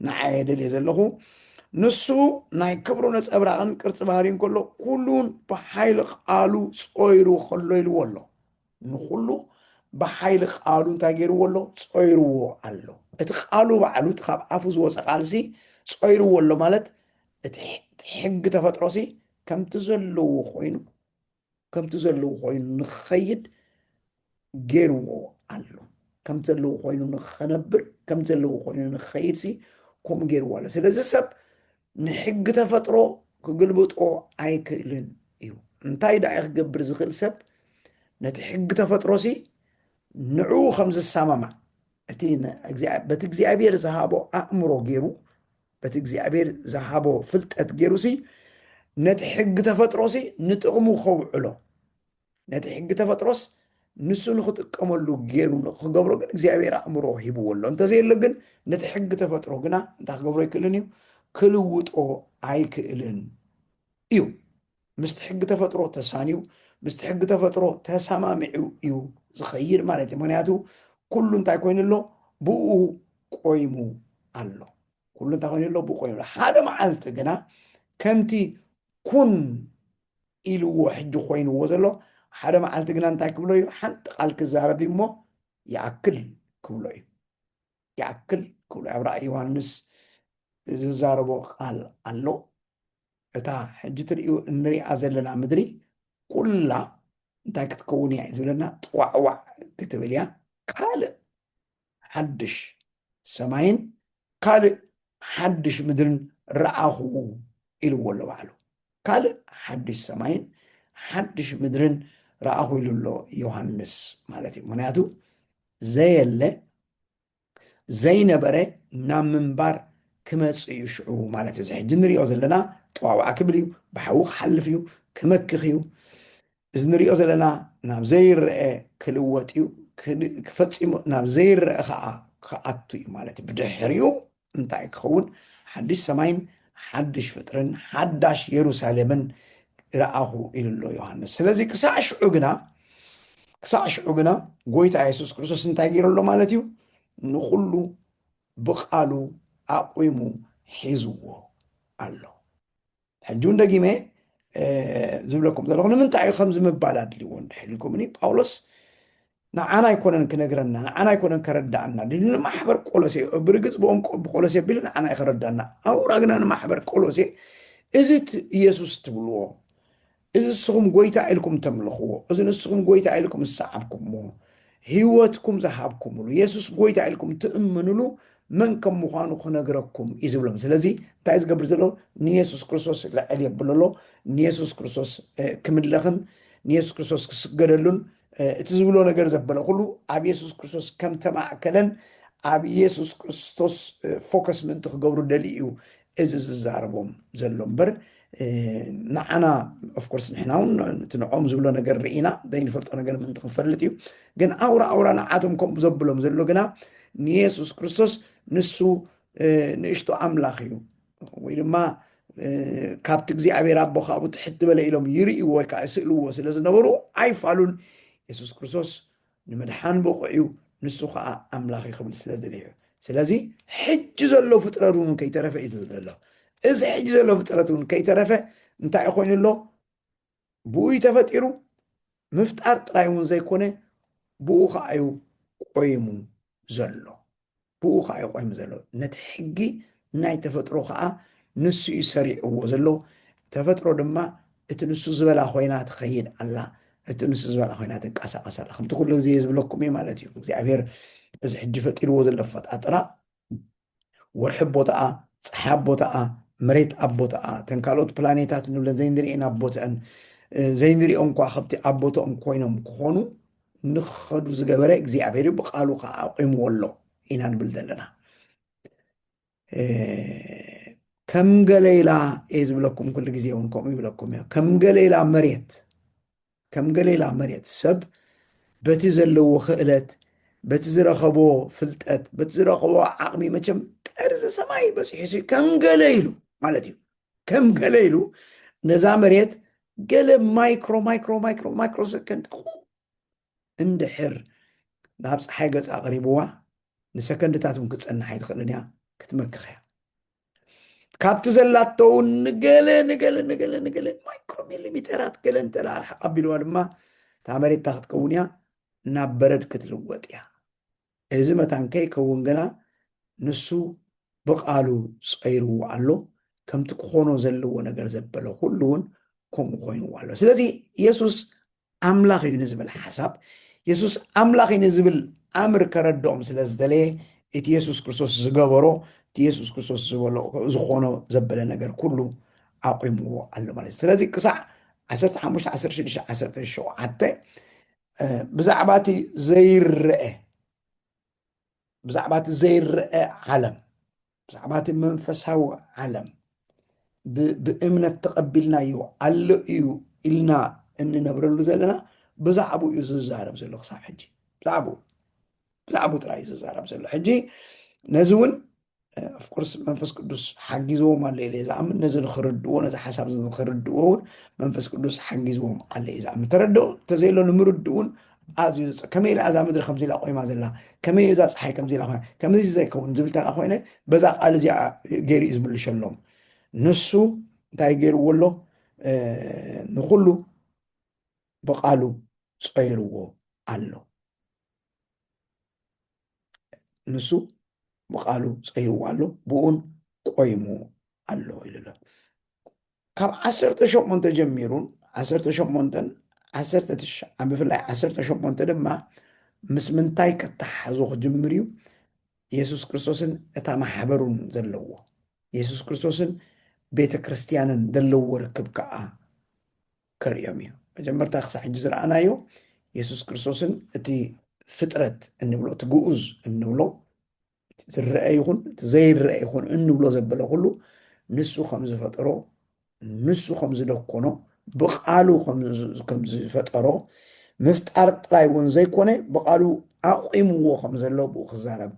Speaker 1: ንዓየ ደልየ ዘለኹ ንሱ ናይ ክብሩ ነፀብራቕን ቅርፂ ባህሪን ከሎ ኩሉን ብሓይሊ ቃሉ ጾይሩ ከሎ ኢልዎ ኣሎ ንኹሉ ብሓይሊ ቃሉ እንታይ ገይርዎ ኣሎ? ጾይርዎ ኣሎ። እቲ ቃሉ ባዕሉ እቲ ካብ ኣፉ ዝወፀ ቃልሲ ጾይርዎ ኣሎ ማለት እቲ ሕጊ ተፈጥሮሲ ከምቲ ዘለዎ ኮይኑ ከምቲ ዘለዎ ኮይኑ ንክኸይድ ገይርዎ ኣሎ። ከምቲ ዘለዎ ኮይኑ ንክኸነብር ከምቲ ዘለዎ ኮይኑ ንክኸይድሲ ከምኡ ገይርዎ ኣሎ። ስለዚ ሰብ ንሕጊ ተፈጥሮ ክግልብጦ ኣይክእልን እዩ። እንታይ ደኣ እዩ ክገብር ዝኽእል ሰብ ነቲ ሕጊ ተፈጥሮሲ ንዕኡ ከም ዝሰማማዕ እቲ በቲ እግዚኣብሔር ዝሃቦ ኣእምሮ ገይሩ በቲ እግዚኣብሔር ዝሃቦ ፍልጠት ገይሩሲ ነቲ ሕጊ ተፈጥሮሲ ንጥቕሙ ከውዕሎ ነቲ ሕጊ ተፈጥሮስ ንሱ ንኽጥቀመሉ ገይሩ ንክገብሮ ግን እግዚኣብሔር ኣእምሮ ሂብዎ ኣሎ እንተዘየሎ ግን ነቲ ሕጊ ተፈጥሮ ግና እንታይ ክገብሮ ኣይክእልን እዩ ክልውጦ ኣይክእልን እዩ ምስቲ ሕጊ ተፈጥሮ ተሳንዩ ምስቲ ሕጊ ተፈጥሮ ተሰማሚዑ እዩ ዝኸይድ ማለት እዩ ምክንያቱ ኩሉ እንታይ ኮይኑ ኣሎ ብኡ ቆይሙ ኣሎ ኩሉ እንታይ ኮይኑ ኣሎ ብኡ ቆይሙ ኣሎ ሓደ መዓልቲ ግና ከምቲ ኩን ኢልዎ ሕጂ ኮይንዎ ዘሎ ሓደ መዓልቲ ግና እንታይ ክብሎ እዩ ሓንቲ ቃል ክዛረብ እዩ እሞ ይኣክል ክብሎ እዩ ይኣክል ክብሎ ኣብ ራእይ ዮሃንስ ዝዛረቦ ቃል ኣሎ እታ ሕጂ ትርእዩ እንሪኣ ዘለና ምድሪ ኩላ እንታይ ክትከውን እያ እዩ ዝብለና ጥዋዕዋዕ ክትብል እያ ካልእ ሓድሽ ሰማይን ካልእ ሓድሽ ምድርን ረኣኹ ኢልዎ ኣሎ ባዕሉ ካልእ ሓድሽ ሰማይን ሓድሽ ምድርን ረኣኹ ኢሉ ኣሎ ዮሃንስ ማለት እዩ ምክንያቱ ዘየለ ዘይነበረ ናብ ምንባር ክመፅእ እዩ ሽዑ ማለት እዚ ሕጂ ንሪኦ ዘለና ጠዋዋዕ ክብል እዩ ብሓዊ ክሓልፍ እዩ ክመክኽ እዩ እዚ ንሪኦ ዘለና ናብ ዘይረኣ ክልወጥ እዩ፣ ፈጺሙ ናብ ዘይረኣ ኸኣ ክኣቱ እዩ ማለት እዩ። ብድሕሪኡ እንታይ ክኸውን? ሓድሽ ሰማይን ሓድሽ ፍጥርን ሓዳሽ የሩሳሌምን ረኣኹ ኢሉ ኣሎ ዮሃንስ። ስለዚ ክሳዕ ሽዑ ግና ክሳዕ ሽዑ ግና ጎይታ የሱስ ክርስቶስ እንታይ ገይሩ ኣሎ ማለት እዩ? ንኹሉ ብቓሉ ኣቝሙ ሒዝዎ ኣሎ። ሕጂ እውን ደጊመ ዝብለኩም ዘለኹ ንምንታይ እዩ ከምዚ ምባል ኣድልዎ እንድሕር ኢልኩምኒ ጳውሎስ ንዓና ኣይኮነን ክነግረና ንዓና ኣይኮነን ከረዳእና ንማሕበር ቆሎሴ ብርግፅ ብኦም ብቆሎሴ ቢሉ ንዓና እዩ ከረዳእና ኣውራ ግና ንማሕበር ቆሎሴ እዚ ኢየሱስ ትብልዎ እዚ ንስኹም ጐይታ ኢልኩም እተምልኽዎ፣ እዚ ንስኹም ጐይታ ኢልኩም ዝሰዓብኩምዎ፣ ህይወትኩም ዝሃብኩምሉ፣ የሱስ ጐይታ ኢልኩም እትእምኑሉ መን ከም ምዃኑ ክነግረኩም እዩ ዝብሎም። ስለዚ እንታይ ዝገብር ዘሎ ንየሱስ ክርስቶስ ልዕል የብሎ ኣሎ። ንየሱስ ክርስቶስ ክምለኽን ንየሱስ ክርስቶስ ክስገደሉን እቲ ዝብሎ ነገር ዘበለ ኩሉ ኣብ የሱስ ክርስቶስ ከም ተማእከለን ኣብ የሱስ ክርስቶስ ፎከስ ምእንቲ ክገብሩ ደልዩ እዩ እዚ ዝዛረቦም ዘሎ እምበር ንዓና ኦፍኮርስ ንሕና እውን እቲ ንዕኦም ዝብሎ ነገር ርኢና ዘይንፈልጦ ነገር ምእንቲ ክንፈልጥ እዩ ግን ኣውራ ኣውራ ንዓቶም ከምኡ ዘብሎም ዘሎ ግና ንየሱስ ክርስቶስ ንሱ ንእሽቶ ኣምላኽ እዩ ወይ ድማ ካብቲ እግዚኣብሔር ኣቦ ካብኡ ትሕት ዝበለ ኢሎም ይርእዎ ወይ ከዓ ይስእልዎ ስለ ዝነበሩ ኣይፋሉን የሱስ ክርስቶስ ንምድሓን ብቑዕ እዩ፣ ንሱ ኸኣ ኣምላኽ እዩ ክብል ስለ ዝደለየ እዩ። ስለዚ ሕጂ ዘሎ ፍጥረት እውን ከይተረፈ እዩ ዝብል ዘሎ። እዚ ሕጂ ዘሎ ፍጥረት እውን ከይተረፈ እንታይ እዩ ኮይኑ ኣሎ? ብኡ እዩ ተፈጢሩ፣ ምፍጣር ጥራይ እውን ዘይኮነ ብኡ ከዓ እዩ ቆይሙ ዘሎ። ብኡ ኸኣ'ዩ ቆይሙ ዘሎ። ነቲ ሕጊ ናይ ተፈጥሮ ኸኣ ንሱ'ዩ ሰሪዕዎ ዘሎ። ተፈጥሮ ድማ እቲ ንሱ ዝበላ ኮይና ትኸይድ ኣላ፣ እቲ ንሱ ዝበላ ኮይና ትንቀሳቐስ ኣላ። ከምቲ ኩሉ ግዜ ዝብለኩም እየ ማለት እዩ። እግዚኣብሄር እዚ ሕጂ ፈጢርዎ ዘሎ ኣፈጣጥራ ወርሒ ኣብ ቦታኣ፣ ጸሓይ ኣብ ቦታኣ፣ መሬት ኣብ ቦታኣ፣ እተን ካልኦት ፕላኔታት ንብለን ዘይንርእየን ኣብ ቦትአን፣ ዘይንርእዮም እኳ ከብቲ ኣብ ቦትኦም ኮይኖም ክኾኑ ንክኸዱ ዝገበረ እግዚኣብሔር እዩ ብቃሉ ከዓ ኣቑምዎ ኣሎ ኢና ንብል ዘለና ከም ገሌላ እየ ዝብለኩም ኩሉ ግዜ እውን ከምኡ ይብለኩም እዮ ከም ገሌላ መሬት ከም ገሌላ መሬት ሰብ በቲ ዘለዎ ክእለት በቲ ዝረኸቦ ፍልጠት በቲ ዝረኸቦ ዓቕሚ መቸም ጠርዚ ሰማይ በፂሑ ከም ገለ ኢሉ ማለት እዩ ከም ገለ ኢሉ ነዛ መሬት ገለ ማይክሮ ማይክሮ ማይክሮ ማይክሮ ሰከንድ እንድሕር ናብ ፀሓይ ገፅ ኣቕሪብዋ ንሰከንድታት እውን ክትፀንሕ ኣይትኽእልን እያ ክትመክኽ እያ ካብቲ ዘላቶ እውን ንገለ ንገለ ንገለ ንገለ ማይክሮ ሚሊሚተራት ገለ እንተ ኣርሓቕ ኣቢልዋ ድማ እታ መሬታ ክትከውን እያ ናብ በረድ ክትልወጥ እያ እዚ መታን ከይከውን ግና ንሱ ብቓሉ ጸይርዎ ኣሎ፣ ከምቲ ክኾኖ ዘለዎ ነገር ዘበለ ኹሉ እውን ከምኡ ኮይንዎ ኣሎ። ስለዚ የሱስ ኣምላኽ እዩ ንዝብል ሓሳብ የሱስ ኣምላኽ እዩ ንዝብል ኣምር ከረድኦም ስለ ዝደለየ እቲ የሱስ ክርስቶስ ዝገበሮ እቲ የሱስ ክርስቶስ ዝበሎ ዝኾኖ ዘበለ ነገር ኩሉ ኣቑምዎ ኣሎ ማለት እዩ። ስለዚ ክሳዕ 15 16 17 ብዛዕባ እቲ ዘይረአ ብዛዕባ እቲ ዘይረአ ዓለም ብዛዕባ እቲ መንፈሳዊ ዓለም ብእምነት ተቐቢልናዩ ኣሎ እዩ ኢልና እንነብረሉ ዘለና ብዛዕባ እዩ ዝዛረብ ዘሎ ክሳብ ሕጂ ብዛዕባ ብዛዕባ ጥራይ እዩ ዝዛረብ ዘሎ ሕጂ ነዚ እውን ኣፍኮርስ መንፈስ ቅዱስ ሓጊዝዎም ኣሎ ኢለ ዝኣምን ነዚ ንክርድዎ ነዚ ሓሳብ እዚ ንክርድዎ እውን መንፈስ ቅዱስ ሓጊዝዎም ኣሎ እዩ ዝኣምን ተረድኦ እንተዘየሎ ንምርድ እውን ኣዝዩ ዘፅ ከመይ ኢላ እዛ ምድሪ ከምዚ ኢላ ቆይማ ዘላ ከመይ እዛ ፀሓይ ከምዚ ኢላ ኮይና ከምዚ ዘይከውን ዝብል ተላ ኮይነ በዛ ቃል እዚኣ ገይሩ እዩ ዝምልሸሎም ንሱ እንታይ ገይርዎ ኣሎ ንኩሉ ብቃሉ ፀይርዎ ኣሎ ንሱ ብቃሉ ፀይርዎ ኣሎ ብኡን ቆይሙ ኣሎ ኢሉ ኣሎ ካብ ዓሰርተ ሸሞንተ ጀሚሩን ዓሰርተ ሸሞንተን ዓሰርተ ትሽዓን ብፍላይ ዓሰርተ ሸሞንተ ድማ ምስ ምንታይ ከተሓዞ ክጅምር እዩ የሱስ ክርስቶስን እታ ማሕበሩን ዘለዎ የሱስ ክርስቶስን ቤተ ክርስትያንን ዘለዎ ርክብ ከዓ ከርእዮም እዩ። መጀመርታ ክሳዕ ሕጂ ዝረኣናዮ የሱስ ክርስቶስን እቲ ፍጥረት እንብሎ እቲ ግኡዝ እንብሎ ዝረአ ይኹን እቲ ዘይረአ ይኹን እንብሎ ዘበለ ኩሉ ንሱ ከም ዝፈጠሮ ንሱ ከም ዝደኮኖ ብቃሉ ከም ዝፈጠሮ ምፍጣር ጥራይ እውን ዘይኮነ ብቃሉ ኣቑምዎ ከም ዘሎ ብኡ ክዛረብ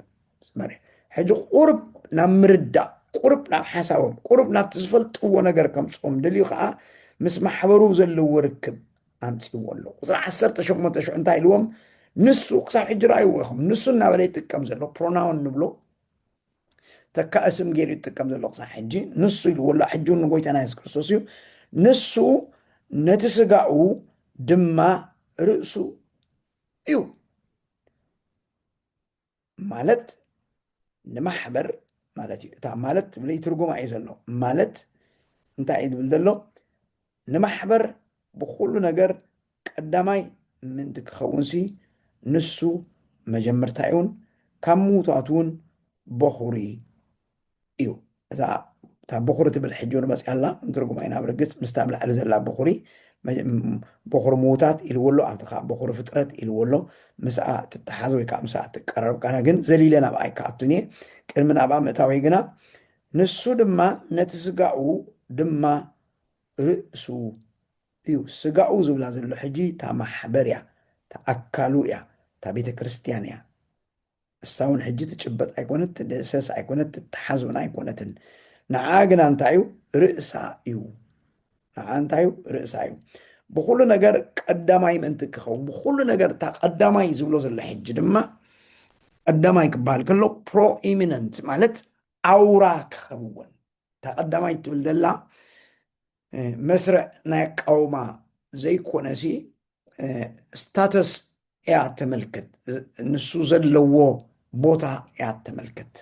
Speaker 1: ሕጂ ቁሩብ ናብ ምርዳእ ቁሩብ ናብ ሓሳቦም ቁሩብ ናብቲ ዝፈልጥዎ ነገር ከምፅኦም ደልዩ ከዓ ምስ ማሕበሩ ዘለዎ ርክብ ኣምፅዎ ኣሎ ቁፅሪ ዓሰርተ ሸሞንተ ሽዑ እንታይ ኢልዎም ንሱ ክሳብ ሕጂ ረኣይዎ ኢኹም ንሱ እናበለ ይጥቀም ዘሎ ፕሮናውን ንብሎ ተካእ ስም ገይሩ ይጥቀም ዘሎ ክሳብ ሕጂ ንሱ ኢልዎ ኣሎ ሕጂ እውን ንጎይታና የሱስ ክርስቶስ እዩ ንሱ ነቲ ስጋኡ ድማ ርእሱ እዩ ማለት ንማሕበር ማለት እዩ እታ ማለት ትብል ትርጉማ እዩ ዘሎ ማለት እንታይ እዩ ዝብል ዘሎ ንማሕበር ብኩሉ ነገር ቀዳማይ ምእንቲ ክኸውንሲ ንሱ መጀመርታ እውን ካብ ምውታት እውን በኹሪ እዩ እዛ እታ በኹሪ ትብል ሕጂ እውን መፅያ ኣላ ንትርጉማ ኢና ብርግፅ ምስታ ኣብ ላዕሊ ዘላ በኹሪ መ- ም- በኹሪ ምዉታት ኢልዎ ኣሎ ኣብቲ ከዓ በኹሪ ፍጥረት ኢልዎ ኣሎ ምስኣ ትተሓዝ ወይ ከዓ ምስኣ ትቀረብ ካነ ግን ዘሊለ ናብኣ ኣይከኣቱን እየ ቅድሚ ናብኣ ምእታወይ ግና ንሱ ድማ ነቲ ስጋኡ ድማ ርእሱ እዩ ስጋኡ ዝብላ ዘሎ ሕጂ እታ ማሕበር እያ እታ ኣካሉ እያ እታ ቤተ ክርስትያን እያ ንሳ ውን ሕጂ ትጭበጥ ኣይኮነት ትድህሰስ ኣይኮነት ትተሓዝ ውን ኣይኮነትን ንዓኣ ግና እንታይ እዩ ርእሳ እዩ ንዓኣ እንታይ እዩ ርእሳ እዩ ብኩሉ ነገር ቀዳማይ ምእንቲ ክኸውን ብኩሉ ነገር እታ ቀዳማይ ዝብሎ ዘሎ ሕጂ ድማ ቀዳማይ ክበሃል ከሎ ፕሮኢሚነንት ማለት ኣውራ ክኸውን እታ ቀዳማይ ትብል ዘላ መስርዕ ናይ ኣቃውማ ዘይኮነሲ ስታተስ እያ ተመልክት ንሱ ዘለዎ ቦታ እያ ተመልክት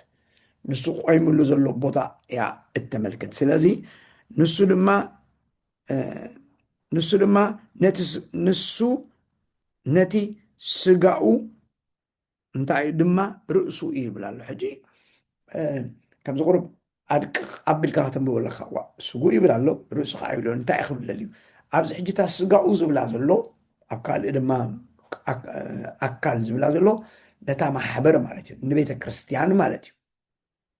Speaker 1: ንሱ ቆይምሉ ዘሎ ቦታ እያ እተመልክት ስለዚ ንሱ ድማ ንሱ ድማ ንሱ ነቲ ስጋኡ እንታይ ድማ ርእሱ እዩ ይብል ኣሎ ሕጂ ከምዚ ቁሩብ ኣድቅቕ ኣቢልካ ከተንብቦ ኣለካ ዋ ስጉእ ይብል ኣሎ ርእሱ ከዓ ይብሎ እንታይ ክብል ደልዩ ኣብዚ ሕጂ እታ ስጋኡ ዝብላ ዘሎ ኣብ ካልእ ድማ ኣካል ዝብላ ዘሎ ነታ ማሕበር ማለት እዩ ንቤተ ክርስቲያን ማለት እዩ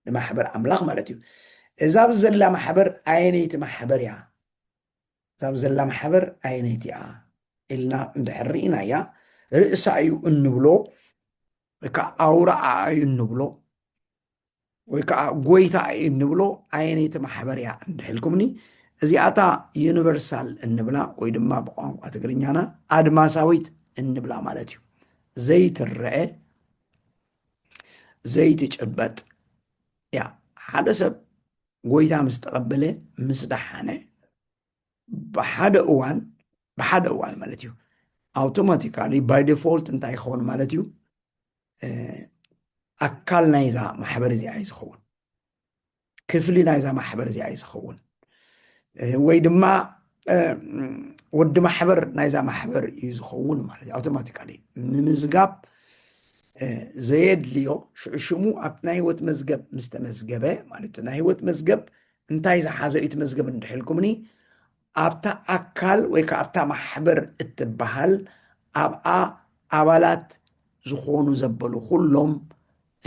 Speaker 1: ንማሕበር ኣምላኽ ማለት እዩ እዛ ኣብዚ ዘላ ማሕበር ኣየነይቲ ማሕበር እያ እዛ ዘላ ማሕበር ኣየነይቲ እያ ኢልና እንድሕር ርኢናያ ርእሳ እዩ እንብሎ ወይ ከዓ ኣውራኣ እዩ እንብሎ ወይ ከዓ ጎይታ እዩ እንብሎ ኣየነይቲ ማሕበር እያ እንድሕልኩምኒ እዚኣታ ዩኒቨርሳል እንብላ ወይ ድማ ብቋንቋ ትግርኛና ኣድማሳዊት እንብላ ማለት እዩ ዘይትረአ ዘይትጭበጥ እያ ሓደ ሰብ ጎይታ ምስ ተቐበለ ምስ ደሓነ ብሓደ እዋን ብሓደ እዋን ማለት እዩ ኣውቶማቲካሊ ባይ ዲፎልት እንታይ ይኸውን ማለት እዩ ኣካል ናይዛ ማሕበር እዚኣ እዩ ዝኸውን ክፍሊ ናይዛ ማሕበር እዚኣ እዩ ዝኸውን ወይ ድማ ወዲ ማሕበር ናይዛ ማሕበር እዩ ዝኸውን ማለት እዩ ኣውቶማቲካሊ ምምዝጋብ ዘየድልዮ ሽዑ ሽሙ ኣብ ናይ ህይወት መዝገብ ምስ ተመዝገበ ማለት ናይ ህይወት መዝገብ እንታይ ዝሓዘ እዩ ትመዝገብ እንድሕልኩምኒ ኣብታ ኣካል ወይ ከዓ ኣብታ ማሕበር እትበሃል ኣብኣ ኣባላት ዝኾኑ ዘበሉ ኩሎም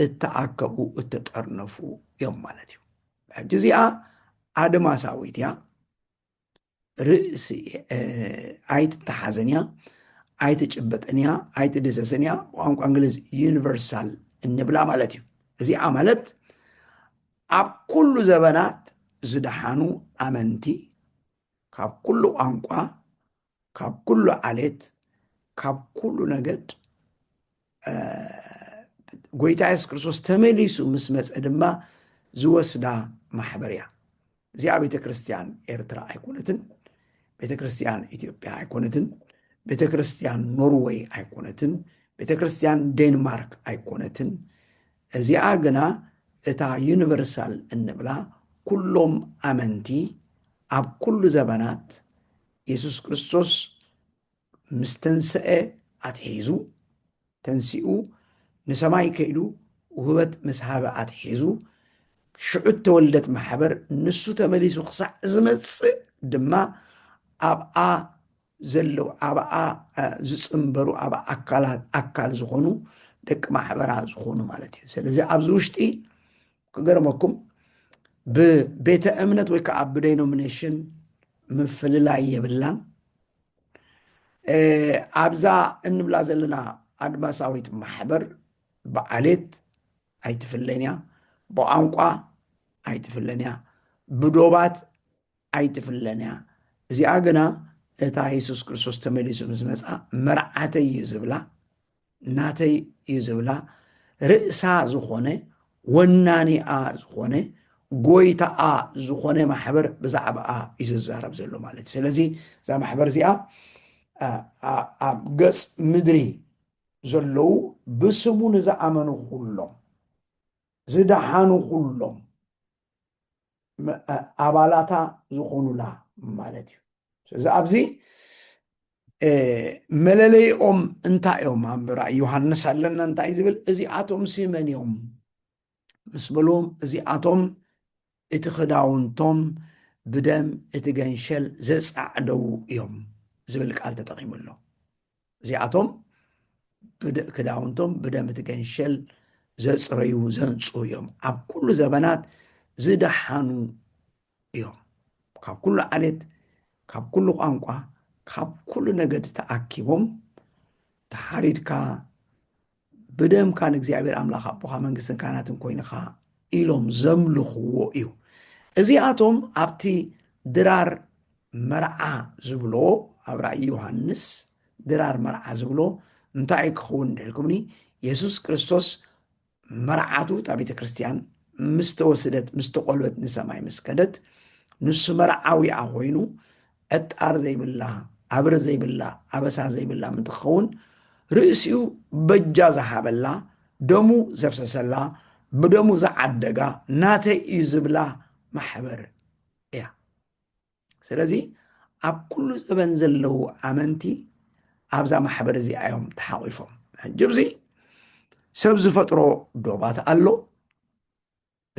Speaker 1: እተኣከቡ እተጠርነፉ እዮም ማለት እዩ ሕጂ እዚኣ ኣድማሳዊት እያ ርእሲ ኣይትተሓዘን እያ፣ ኣይትጭበጥን እያ፣ ኣይትድሰስን እያ። ቋንቋ እንግሊዝ ዩኒቨርሳል እንብላ ማለት እዩ። እዚኣ ማለት ኣብ ኩሉ ዘበናት ዝደሓኑ ኣመንቲ ካብ ኩሉ ቋንቋ ካብ ኩሉ ዓሌት ካብ ኩሉ ነገድ ጎይታ የሱስ ክርስቶስ ተመሊሱ ምስ መፀ ድማ ዝወስዳ ማሕበር እያ እዚኣ ቤተ ክርስትያን ኤርትራ ኣይኮነትን ቤተ ክርስትያን ኢትዮጵያ ኣይኮነትን ቤተ ክርስትያን ኖርወይ ኣይኮነትን ቤተ ክርስትያን ዴንማርክ ኣይኮነትን እዚኣ ግና እታ ዩኒቨርሳል እንብላ ኩሎም ኣመንቲ ኣብ ኩሉ ዘበናት የሱስ ክርስቶስ ምስ ተንስኤ ኣትሒዙ፣ ተንሲኡ ንሰማይ ከይዱ ውህበት ምስ ሃበ ኣትሒዙ፣ ሽዑ እተወልደት ማሕበር ንሱ ተመሊሱ ክሳዕ ዝመጽእ ድማ ኣብኣ ዘለዉ ኣብኣ ዝጽንበሩ ኣብ ኣካላት ኣካል ዝኾኑ ደቂ ማሕበራ ዝኾኑ ማለት እዩ። ስለዚ ኣብዚ ውሽጢ ክገርመኩም ብቤተ እምነት ወይ ከዓ ብዴኖሚኔሽን ምፍልላይ የብላን ኣብዛ እንብላ ዘለና ኣድማሳዊት ማሕበር ብዓሌት ኣይትፍለን እያ ብቋንቋ ኣይትፍለን እያ ብዶባት ኣይትፍለን እያ እዚኣ ግና እታ የሱስ ክርስቶስ ተመሊሱ ምስ መጽኣ መርዓተይ እዩ ዝብላ ናተይ እዩ ዝብላ ርእሳ ዝኾነ ወናኒኣ ዝኾነ ጎይታኣ ዝኾነ ማሕበር ብዛዕባኣ እዩ ዝዛረብ ዘሎ ማለት እዩ ስለዚ እዛ ማሕበር እዚኣ ኣብ ገጽ ምድሪ ዘለዉ ብስሙ ንዝኣመኑ ኩሎም ዝደሓኑ ኩሎም ኣባላታ ዝኾኑላ ማለት እዩ ስለዚ ኣብዚ መለለይኦም እንታይ እዮም ኣብ ራእይ ዮሃንስ ኣለና እንታይ ዝብል እዚኣቶም ሲመን እዮም ምስ በሉ እዚኣቶም እቲ ክዳውንቶም ብደም እቲ ገንሸል ዘፃዕደው እዮም ዝብል ቃል ተጠቂሙ ኣሎ እዚኣቶም ክዳውንቶም ብደም እቲ ገንሸል ዘጽረዩ ዘንጹ እዮም ኣብ ኩሉ ዘበናት ዝደሓኑ እዮም ካብ ኩሉ ዓሌት ካብ ኩሉ ቋንቋ ካብ ኩሉ ነገድ ተኣኪቦም ተሓሪድካ ብደምካ ንእግዚኣብሔር ኣምላኽ ኣቦኻ መንግስትን ካህናትን ኮይንኻ ኢሎም ዘምልኽዎ እዩ እዚኣቶም ኣብቲ ድራር መርዓ ዝብሎ ኣብ ራእይ ዮሃንስ ድራር መርዓ ዝብሎ እንታይ እዩ ክኸውን ድሕልኩምኒ የሱስ ክርስቶስ መርዓቱ እታ ቤተ ክርስትያን ምስ ተወስደት ምስ ተቆልበት ንሰማይ ምስ ከደት ንሱ መርዓዊኣ ኮይኑ ዕጣር ዘይብላ፣ ኣብሪ ዘይብላ፣ ኣበሳ ዘይብላ ምእንቲ ክኸውን ርእሲኡ በጃ ዝሃበላ፣ ደሙ ዘፍሰሰላ፣ ብደሙ ዝዓደጋ፣ ናተይ እዩ ዝብላ ማሕበር እያ። ስለዚ ኣብ ኩሉ ዘበን ዘለዉ ኣመንቲ ኣብዛ ማሕበር እዚኣ እዮም ተሓቚፎም። ሕጂ እዚ ሰብ ዝፈጥሮ ዶባት ኣሎ፣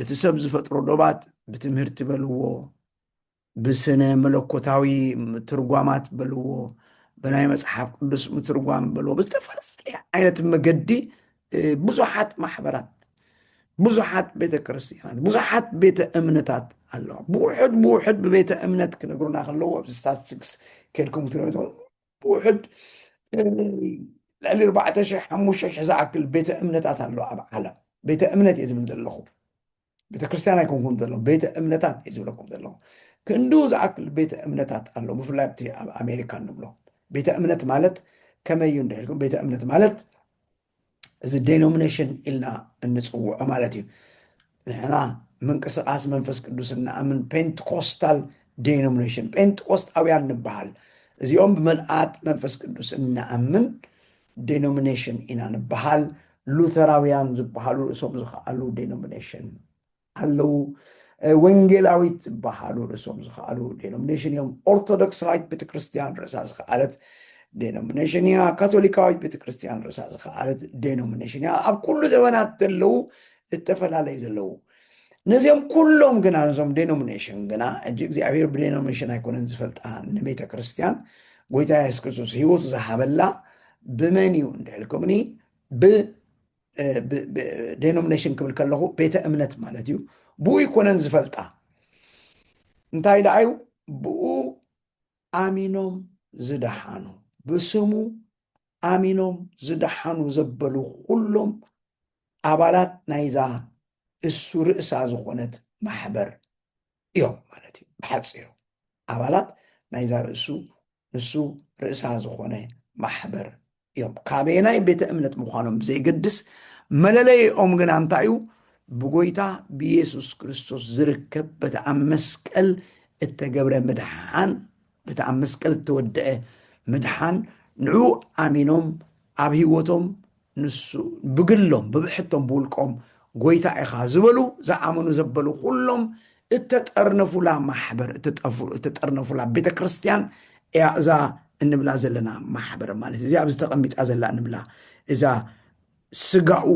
Speaker 1: እቲ ሰብ ዝፈጥሮ ዶባት ብትምህርቲ በልዎ ብስነ መለኮታዊ ምትርጓማት በልዎ ብናይ መፅሓፍ ቅዱስ ምትርጓም በልዎ ብዝተፈላለየ ዓይነት መገዲ ብዙሓት ማሕበራት ብዙሓት ቤተ ክርስትያናት ብዙሓት ቤተ እምነታት ኣለዋ ብውሕድ ብውሕድ ብቤተ እምነት ክነግሩና ከለዎ ስታትስቲክስ ከድኩም ክትሪኦ ብውሕድ ልዕሊ ኣርባዕተ ሽሕ ሓሙሽተ ሽሕ ዝኣክል ቤተ እምነታት ኣሎ ኣብ ዓለም ቤተ እምነት እየ ዝብል ዘለኹ ቤተ ክርስቲያን ኣይኮንኩም ዘለኹ ቤተ እምነታት እየ ዝብለኩም ዘለኹ ክንዱ ዝኣክል ቤተ እምነታት ኣሎ ብፍላይ ኣብቲ ኣብ ኣሜሪካ ንብሎ ቤተ እምነት ማለት ከመይ እዩ እንድሕልኩም ቤተ እምነት ማለት እዚ ዴኖሚኔሽን ኢልና እንፅውዖ ማለት እዩ ንሕና ምንቅስቃስ መንፈስ ቅዱስ እንኣምን ፔንትኮስታል ዴኖሚኔሽን ጴንጥቆስጣውያን ንበሃል እዚኦም ብመልኣት መንፈስ ቅዱስ እንኣምን ዴኖሚኔሽን ኢና ንበሃል ሉተራውያን ዝበሃሉ ርእሶም ዝኸኣሉ ዴኖሚኔሽን ኣለዉ ወንጌላዊት ዝበሃሉ ርእሶም ዝኸኣሉ ዴኖሚኔሽን እዮም ኦርቶዶክሳዊት ቤተክርስትያን ርእሳ ዝኸኣለት ዴኖሚኔሽን እያ ካቶሊካዊት ቤተክርስትያን ርእሳ ዝኸኣለት ዴኖሚኔሽን እያ ኣብ ኩሉ ዘበናት ዘለዉ ዝተፈላለዩ ዘለዉ ነዚኦም ኩሎም ግና ነዞም ዴኖሚኔሽን ግና እጅ እግዚኣብሔር ብዴኖሚኔሽን ኣይኮነን ዝፈልጣ ንቤተ ክርስትያን ጎይታ የሱስ ክርስቶስ ህይወቱ ዝሃበላ ብመን እዩ እንድሕልኩምኒ ብ ዴኖሚኔሽን ክብል ከለኹ ቤተ እምነት ማለት እዩ ብኡ ይኮነን ዝፈልጣ እንታይ ደኣ እዩ ብኡ ኣሚኖም ዝደሓኑ ብስሙ ኣሚኖም ዝደሓኑ ዘበሉ ኩሎም ኣባላት ናይዛ እሱ ርእሳ ዝኾነት ማሕበር እዮም ማለት እዩ ብሓፂሩ ኣባላት ናይዛ ርእሱ ንሱ ርእሳ ዝኾነ ማሕበር እዮም ካበየናይ ቤተ እምነት ምዃኖም ብዘይገድስ መለለይኦም ግና እንታይ እዩ ብጎይታ ብኢየሱስ ክርስቶስ ዝርከብ በቲ ኣብ መስቀል እተገብረ ምድሓን በቲ ኣብ መስቀል እተወድአ ምድሓን ንዕኡ ኣሚኖም ኣብ ህይወቶም ንሱ ብግሎም ብብሕቶም ብውልቆም ጐይታ ኢኻ ዝበሉ ዝኣመኑ ዘበሉ ዅሎም እተጠርነፉላ ማሕበር እተጠርነፉላ ቤተ ክርስቲያን እያ እዛ እንብላ ዘለና ማሕበር ማለት እዚኣ ኣብዚ ተቐሚጣ ዘላ እንብላ እዛ ስጋኡ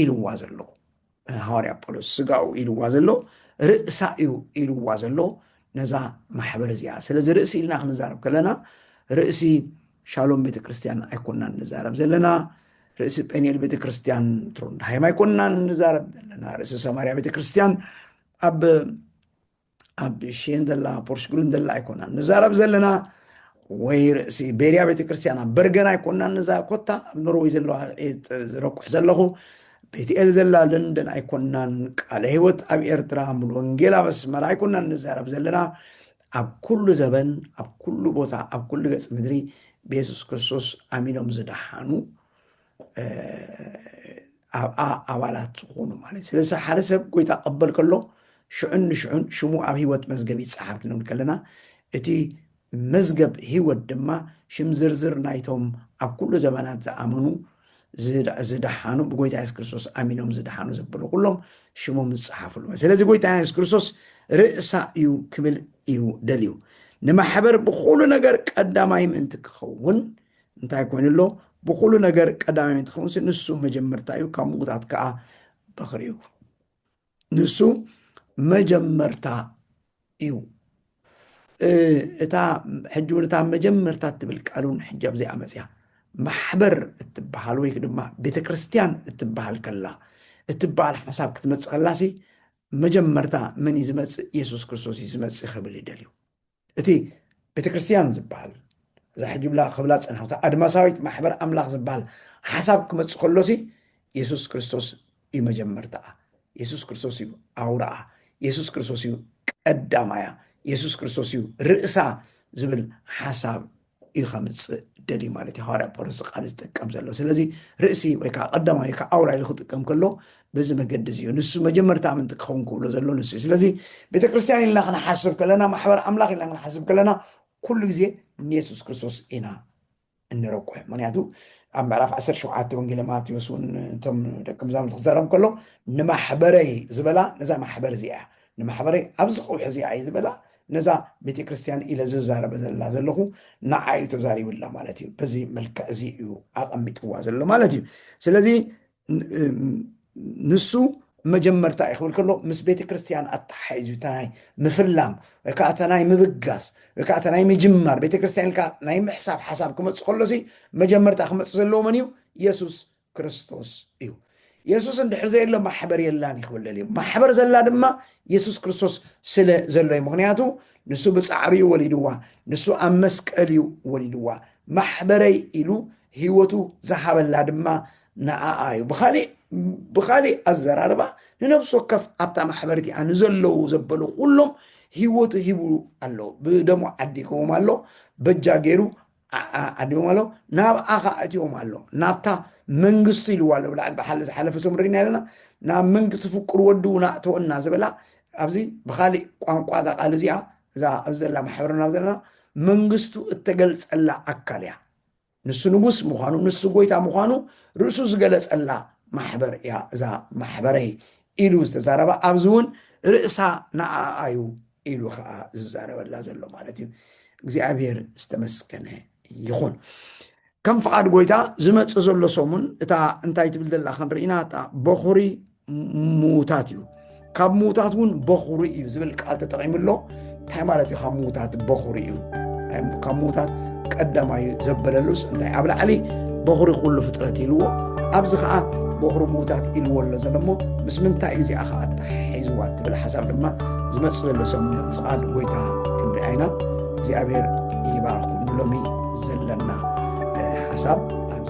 Speaker 1: ኢልዋ ዘለኹ ሃዋርያ ጳውሎስ ስጋኡ ኢልዋ ዘሎ ርእሳ እዩ ኢልዋ ዘሎ ነዛ ማሕበር እዚኣ ስለዚ ርእሲ ኢልና ክንዛረብ ከለና ርእሲ ሻሎም ቤተ ክርስቲያን ኣይኮናን ንዛረብ ዘለና ርእሲ ጴኒኤል ቤተ ክርስቲያን ትሮንድሃይም ኣይኮናን ንዛረብ ዘለና ርእሲ ሰማርያ ቤተ ክርስቲያን ኣብ ኣብ ሽየን ዘላ ፖርስግሩን ዘላ ኣይኮናን ንዛረብ ዘለና ወይ ርእሲ ቤርያ ቤተክርስትያን ኣብ በርገን ኣይኮናን ነዛ ኮታ ኣብ ኖርወይ ዘለዋ ዝረኩሕ ዘለኹ ቤትኤል ዘላ ለንደን ኣይኮናን ቃለ ህይወት ኣብ ኤርትራ ሙሉ ወንጌል ኣብ ኣስመራ ኣይኮናን ንዛረብ ዘለና ኣብ ኩሉ ዘበን ኣብ ኩሉ ቦታ ኣብ ኩሉ ገጽ ምድሪ ብየሱስ ክርስቶስ ኣሚኖም ዝደሓኑ ኣብኣ ኣባላት ዝኾኑ ማለት ስለዚ ሓደ ሰብ ጎይታ ቀበል ከሎ ሽዑን ንሽዑን ሽሙ ኣብ ህይወት መዝገብ ይፀሓፍ ክንብል ከለና እቲ መዝገብ ህይወት ድማ ሽም ዝርዝር ናይቶም ኣብ ኩሉ ዘመናት ዝኣመኑ ዝደሓኑ ብጎይታ የሱስ ክርስቶስ ኣሚኖም ዝደሓኑ ዘበሉ ኩሎም ሽሞም ዝፀሓፍሉ ስለዚ ጎይታ የሱስ ክርስቶስ ርእሳ እዩ ክብል እዩ ደልዩ ንማሕበር ብኩሉ ነገር ቀዳማይ ምእንቲ ክኸውን እንታይ ኮይኑ ኣሎ ብኩሉ ነገር ቀዳማይ እንትኸውንሲ ንሱ መጀመርታ እዩ ካብ ምውታት ከዓ በኽሪ እዩ ንሱ መጀመርታ እዩ እታ ሕጂ እውን እታ መጀመርታ እትብል ቃል እውን ሕጂ ኣብዚኣ መፅያ ማሕበር እትበሃል ወይ ድማ ቤተ ክርስትያን እትበሃል ከላ እትበሃል ሓሳብ ክትመፅእ ከላሲ መጀመርታ መን እዩ ዝመፅእ የሱስ ክርስቶስ እዩ ዝመፅእ ክብል ይደልዩ እቲ ቤተ ክርስቲያን ዝበሃል እዛ ሕጅብላ ክብላ ዝጸናሕታ ኣድማሳዊት ማሕበር ኣምላኽ ዝበሃል ሓሳብ ክመጽእ ከሎሲ የሱስ ክርስቶስ እዩ መጀመርታኣ የሱስ ክርስቶስ እዩ ኣውራኣ የሱስ ክርስቶስ እዩ ቀዳማያ የሱስ ክርስቶስ እዩ ርእሳ ዝብል ሓሳብ እዩ ከምፅእ ደልዩ ማለት እዩ ሃዋርያ ጳውሎስ ቃል ዝጥቀም ዘሎ ስለዚ ርእሲ ወይ ከዓ ቀዳማይ ወይ ከዓ ኣውራ ኢሉ ክጥቀም ከሎ በዚ መገዲ እዚ እዩ ንሱ መጀመርታ ኣምንቲ ክኸውን ክብሎ ዘሎ ንሱ እዩ ስለዚ ቤተክርስትያን ኢልና ክንሓስብ ከለና ማሕበር ኣምላኽ ኢልና ክንሓስብ ከለና ኩሉ ግዜ ንየሱስ ክርስቶስ ኢና እንረቁሕ ምክንያቱ ኣብ ምዕራፍ 17 ወንጌለ ማቴዎስ እውን እቶም ደቂ መዛሙርቲ ክዛረብ ከሎ ንማሕበረይ ዝበላ ነዛ ማሕበር እዚኣ ንማሕበረይ ኣብዚ ቀውሒ እዚኣ እዩ ዝበላ ነዛ ቤተ ክርስቲያን ኢለ ዝዛረበ ዘላ ዘለኹ ንዓ እዩ ተዛሪብላ ማለት እዩ በዚ መልክዕ እዚ እዩ ኣቐሚጥዋ ዘሎ ማለት እዩ ስለዚ ንሱ መጀመርታ እዩ ክብል ከሎ ምስ ቤተ ክርስቲያን ኣተሓሒዙ እታ ናይ ምፍላም ወይ ከዓ እታ ናይ ምብጋስ ወይ ከዓ እታ ናይ ምጅማር ቤተ ክርስቲያን ኢልካ ናይ ምሕሳብ ሓሳብ ክመፅእ ከሎሲ መጀመርታ ክመፅእ ዘለዎ መን እዩ የሱስ ክርስቶስ እዩ የሱስ እንድሕር ዘየሎ ማሕበር የላን እዩ ክብለል እዩ ማሕበር ዘላ ድማ የሱስ ክርስቶስ ስለ ዘሎ እዩ ምክንያቱ ንሱ ብፃዕሪ እዩ ወሊድዋ ንሱ ኣብ መስቀል እዩ ወሊድዋ ማሕበረይ ኢሉ ህይወቱ ዝሃበላ ድማ ንዓኣ እዩ ብካሊእ ብካሊእ ኣዘራርባ ንነብሲ ወከፍ ኣብታ ማሕበር እቲኣ ንዘለዉ ዘበሉ ኩሎም ህይወቱ ሂቡ ኣሎ ብደሞ ዓዲግዎም ኣሎ በጃ ገይሩ ኣድዮም ኣሎ ናብኣ ኸዓ እትዮም ኣሎ ናብታ መንግስቱ ኢልዋ ኣሎ ብላዕሊ ብሓሊ ዝሓለፈ ሰሙ ደግና ኣለና ናብ መንግስቲ ፍቁር ወዱ እውን ኣእተወና ዝበላ ኣብዚ ብካሊእ ቋንቋ እዛ ቃል እዚኣ እዛ ኣብ ዘላ ማሕበርና ዘለና መንግስቱ እተገልጸላ ኣካል እያ ንሱ ንጉስ ምዃኑ ንሱ ጎይታ ምዃኑ ርእሱ ዝገለጸላ ማሕበር እያ እዛ ማሕበረይ ኢሉ ዝተዛረባ ኣብዚ እውን ርእሳ ንኣኣ እዩ ኢሉ ከዓ ዝዛረበላ ዘሎ ማለት እዩ እግዚኣብሔር ዝተመስገነ ይኹን ከም ፍቓድ ጎይታ ዝመፅእ ዘሎ ሰሙን እታ እንታይ ትብል ዘላ ክንርኢና እታ በኹሪ ምውታት እዩ ካብ ምውታት እውን በኹሪ እዩ ዝብል ቃል ተጠቂሙ ኣሎ እንታይ ማለት እዩ ካብ ምውታት በኹሪ እዩ ካብ ምውታት ቀዳማይ ዘበለሉስ እንታይ ኣብ ላዕሊ በኹሪ ኩሉ ፍጥረት ኢልዎ ኣብዚ ከዓ በኹሪ ምዉታት ኢልዎ ኣሎ ዘሎ እሞ ምስ ምንታይ እዩ እዚኣ ከዓ ኣተሓሒዝዋ እትብል ሓሳብ ድማ ዝመፅእ ዘሎ ሰሙን ፍቓድ ጎይታ ክንሪኣ ኢና እግዚኣብሔር ይባርኩም ንሎሚ ዘለና ሓሳብ ኣብዚ